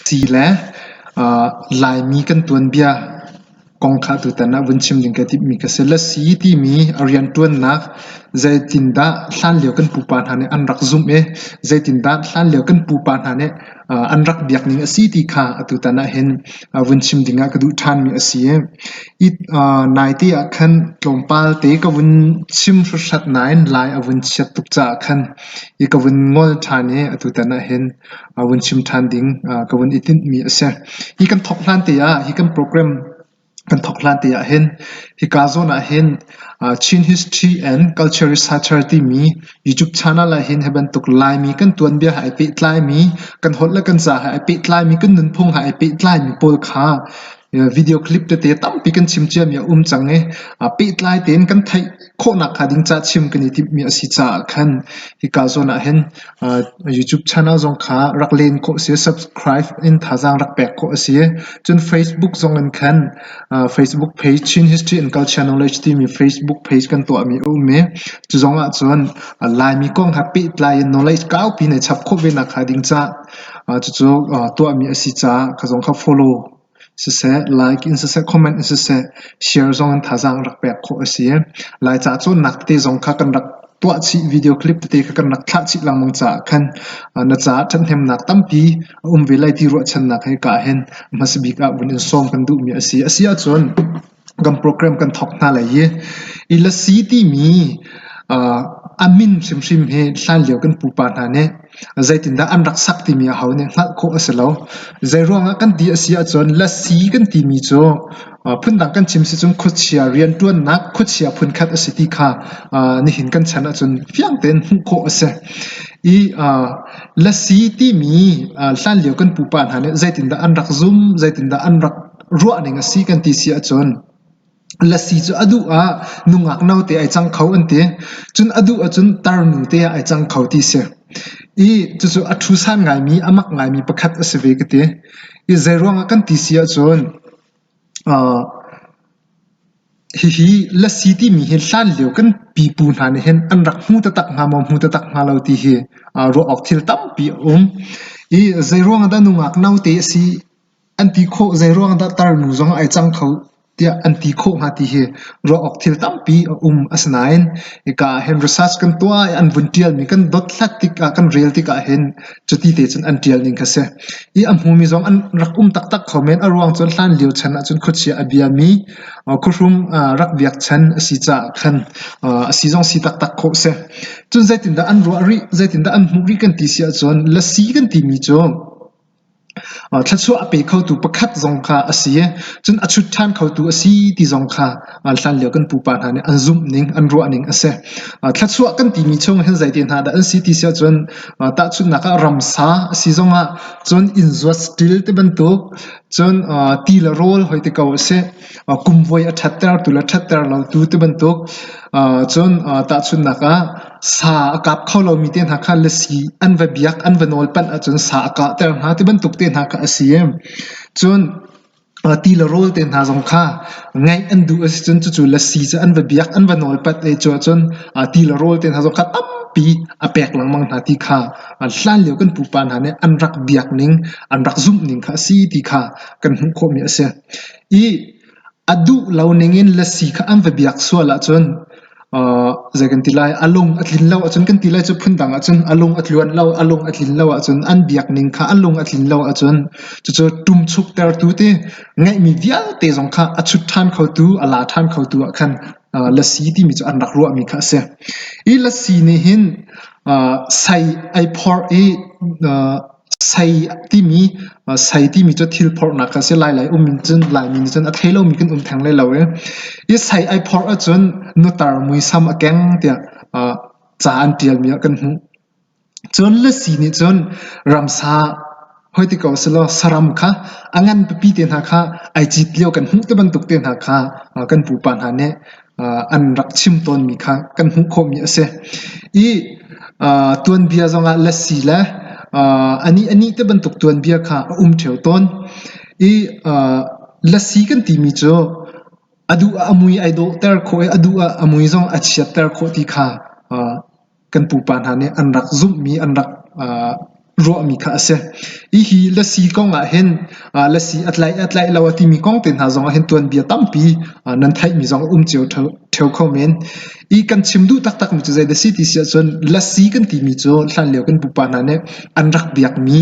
Ti le Laimi kan tuanbia kong kha atu tan ah vun chim ding ka timhmi ka si. Lasi timi a riantuannak zeitindah hlanlio kan pupa hna nih an rak zumh i zeitindah hlanlio kan pupa hna nih an rak biakning a si ti kha atu tan ahhin vun chim ding ah ka duh thanmi a si. Naite ah khan tlawmpal te ka vun chim hruhrat nain lai a vun chiat tuk caah khan I ka vun ngol ṭhan i atutan ahhin vun chim ṭhan ding ka vun i tinhmi a si. Hi kan thawk hlan te ah, hi kan program kan thawk hlan te ahhin hika zawn ahhin Chin History and Culture Researcher timi YouTube channel ahhin hi bantuk Laimi kan tuanbia he ai pehtlaimi, kan holh le kan ca he ai pehtlaimi, kan nunphung he ai pehtlaimi pawl kha Video clip tete tampi kan chim ciami a um cang i pehtlai tein kan theih khawhnak hnga ding ca chim kan i timhmi a si caah khan hika zawn ah hin YouTube channel zong kha rak len khawh a si i subscribe in thazaang rak pek khawh a si. Cun Facebook zong in khan Facebook page Chin History and Culture Knowledge timi Facebook page kan tuahmi a um i cu zong ahcun Laimi kong he pehtlai in knowledge kaupi nei chap khawh ve nak hnga ding ca Cucu tuahmi a si caah ka zong kha follow siseh, like in siseh, comment in siseh, share zong in thazaang rak pek khawh a si. Laica cawnnak tete zong kha kan rak tuah chih, video clip tete kha kan rak thlah chih lengmang caah khan na caah ṭhathnemnak tampi a um ve lai ti ruahchannak he ka hen hmasabik ah vun in sawm kan duhmi a si. A si ahcun kan program kan thawk hna lai i Ilasi timi uh, a min hrimhrim hi hlanlio kan pupa hna nih zeitindah an rak sak timi aho nih hngalh khawh a si lo. Zei ruangah kan ti a si ahcun lasi kan timi cu phundang kan chim si cun khuachia rianṭuannak khuachia phunkhat a si ti kha nihin kan chan ahcun fiang tein hmuh khawh a si. I lasi timi hlanlio kan pupa hna nih zeitindah an rak zum, zeitindah an rak ruahning a si kan ti si ahcun lasi cu a duh ah nungak note ai cang kho an ti. Cun a duh ahcun tarnu te ah ai cang kho ti si. I cucu a thusan ngaimi, a mak ngaimi pakhat a si ve ka ti. I zeiruangah kan ti si ahcun uh, hihi lasi timi hi hlan lio kan pipu hna nih hin an rak hmu tatak hnga maw hmu tatak hnga lo ti hi uh, ruah awk thil tampi a um. I zeiruangah dah nungak note a si an ti khawh zeiruang dah tarnu zong a ai cang kho tiah an ti khawh hnga ti hi ruah awk thil tampi a um. Asinain hika ah hin research kan tuah i an vun ṭialmi kan dothlat tikah kan rel tikah hin cuti te cun an ṭial ning kha si. I a hmumi zong an rak um taktak kho men. A ruang cu hlan lio chan ahcun khuachia a biami khuahrum rak biakchan a si caah khan a si zong si taktak khawh si. Cun zeitindah an ruah rih, zeitindah an hmuh rih kan ti si ahcun lasi kan timi cu Thluachuah a pe khotu pakhat zong kha a si i cun a chut ṭhan khotu a si ti zong kha hlanlio kan pupa hna nih an zumhning an ruahning a si. Thluachuah kan timi chung hin zei tehna dah an si ti si ahcun tahchunhnak ah ramsa a si zongah cun innzuat stil ti bantuk cun ti le rawl hoi ti ko a si. kumvuai a ṭhattertu le ṭhatter lotu ti bantuk cun tahchunhnak ah sa a kap kho lomi te hna kha lasi an va biak an va nawl panh ahcun sa a kahter hna ti bantuk te hna kha a si i cun ti le rawl te hna zong kha ngeih an duh a si cun cucu lasi cu an va biak an va nawl pat i cuahcun ti le rawl te hna zong kha tampi a pek lengmang hna ti kha hlan lio kan pupa hna nih an rak biak ning an rak zumh ning kha a si ti kha kan hmuh khawhmi a si. Ih, a duh lo ningin lasi kha an va biak sual ahcun zei kan ti lai, a lung a tlin lo ahcun kan ti lai cu phundang ahcun a lung a tluan lo, a lung a tlin lo ahcun an biak ning kha a lung a tlin lo ahcun cucu ṭumchuktertu ti ngeihmi vialte zong kha a chut ṭhan khotu, a la ṭhan khotu ah khan lasi timi cu an rak ruahmi kha a si. Ih lasi nih hin sai ai phorh i Sai timi cu thil phorhnak a si. Lailai um in cun Laimi nih cun a thei lomi kan um theng lai lo i i sai ai phorh ahcun nutar muisam a keng tiah ca an ṭialmi ah kan hmuh. Cun Lasi nih cun ramsa hoi ti ko selaw saram kha a ngan pipi te hna kha ai cit lio kan hmuh ti bantuk te hna kha kan pupa hna nih an rak chim tawnmi kha kan hmuh khawhmi a si. I tuanbia zongah lasi le anih te bantuk tuanbia kha a um ṭheo tawn. I lasi kan timi cu a duh ah a mui ai dawhter khawh i a duh ah a mui zong a chiatter khawh ti kha kan pupa hna nih an rak zumhmi an rak uh, ruahmi kha a si. Hihi lasi kong ah hin uh, lasi a tlaih a tlaih lo a timi kong te hna zong ah hin tuanbia tampi uh, nan theihmi zong um cio theo kho men. I kan chim duh taktak mi cu zei da si ti si ahcun lasi kan timi cu hlan lio kan pupa hna nih an rak biakmi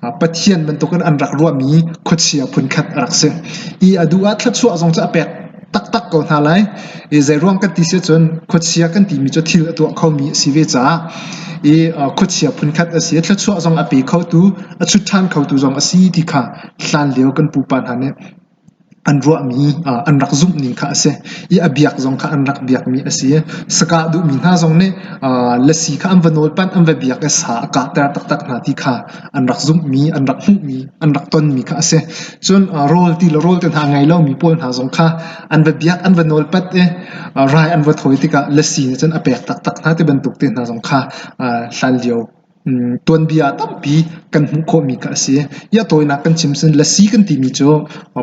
uh, Pathian bantukin an rak ruahmi khuachia phunkhat a rak si. I a du ah thluachuah zong cu a pek taktak ko hna lai. I zeiruang kan ti si ahcun khuachia kan timi cu thil a tuah khomi a si ve caah i khuachia phunkhat a si i thluachuah zong a pe khotu, a chut ṭhan khotu zong a si ti kha hlanlio kan pupa hna nih an ruahmi an rak zumhning kha a si i a biak zong kha an rak biakmi a si. Sakah duhmi hna zong nih lasi kha an va nawl panh, an va biak i sa a kahter taktak hna ti kha an rak zumhmi, an rak hmuhmi, an rak tonmi kha a si. Cun rawl ti le rawl te hna ngei lomi pawl hna zong kha an va biak, an va nawlpat i rai an va thawi tikah lasi nih cun a pek taktak hna ti bantuk te hna zong kha hlan lio tuanbia tampi kan hmuh khawhmi kha a si. Ia tawinak kan chim cun lasi kan timi cu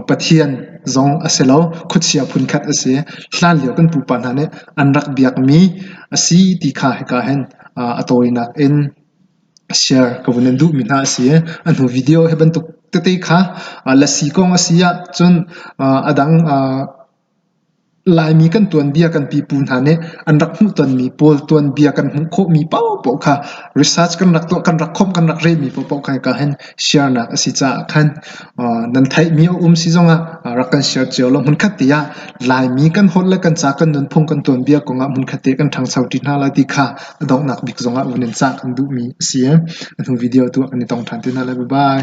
Pathian zong a si lo, khuachia phunkhat a si. Hlan lio kan pupa hna nih an rak biakmi a si ti kha hika hin a tawinak in share ka vun in duhmi hna a si i a hnu video hi bantuk tete kha lasi kong a si ahcun a dang Laimi kan tuanbia kan pipu hna nih an rak hmuhtonmi pawl tuanbia kan hmuh khawhmi paohpaoh kha research kan rak tuah kan rak khomh kan rak rehmi paohpaoh kha hika hin Share-nak a si caah khan nan theihmi a um si zongah rak kan share cio law hmunkhat te ah Laimi kan holh le kan ca, kan nunphung, kan tuanbia kongah hmunkhat te kan ṭhangcho ṭi hna lai ti kha a donghnak bik zongah vun in cah kan duhmi a si. A hnu video tu ah kan i tong ṭhan te hna lai. Bye-bye.